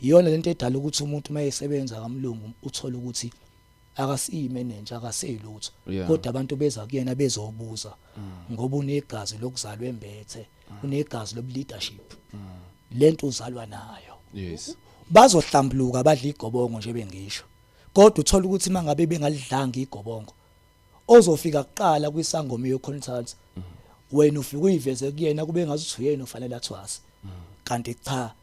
Iyona lento edala ukuthi umuntu uma esebenza kamlungu uthole ukuthi akasiyimenenja akaseyilutho yeah. kodwa abantu beza kuyena bezobuza mm. ngoba unegazi lokuzalwa embethe mm. unegazi lobuleadership mm. lento uzalwa nayo yes bazohlambuluka badla igobongo nje bengisho kodwa uthola ukuthi mangabe bengalidlanga igobongo ozofika kuqala kwisangoma yoconsults wena ufike uyiveze kuyena kube ngazuthi uyena ofanele athwase kanti cha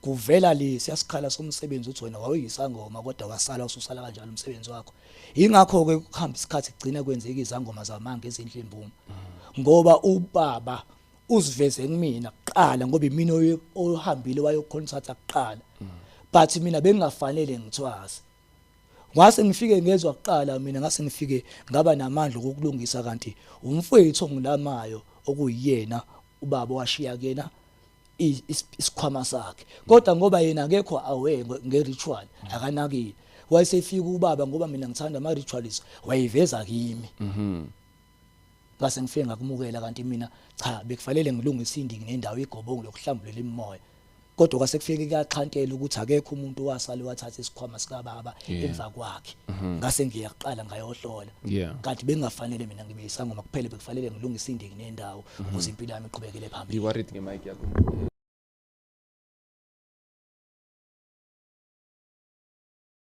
kuvela le siyasikhala somsebenzi uthi wena wawuyisangoma kodwa wasala ususala kanjalo umsebenzi wakho ingakho ke kuhamba isikhathi kugcina kwenzeka izangoma zamanga ezinhle imbumo ngoba ubaba uziveze kumina kuqala ngoba imina ohambile wayoconsulta kuqala but mina bengingafanele ngithwase Ngase ngifike ngezwa kuqala mina ngase ngifike ngaba namandla okulungisa kanti umfowethu ongilamayo okuyena ubaba washiya kena isikhwama sakhe kodwa ngoba yena akekho aware ngeritual akanakile wayesefika ubaba ngoba mina ngithanda ama rituals wayiveza kimi mhm ngase ngifike ngakumukela kanti mina cha bekufanele ngilungise indiki nendawo igobongo lokuhlambulela imimoya kodwa kwase kufike kuyaxhantela ukuthi akekho umuntu wasale wathatha isikhwama sikababa emva kwakhe mhm. ngase ngiyaqala ngayohlola kanti bengafanele mina ngibe isangoma kuphele bekufanele ngilungise indiki nendawo mhm. ukuze impilo yami iqhubekele phambili you worried ngemic yakho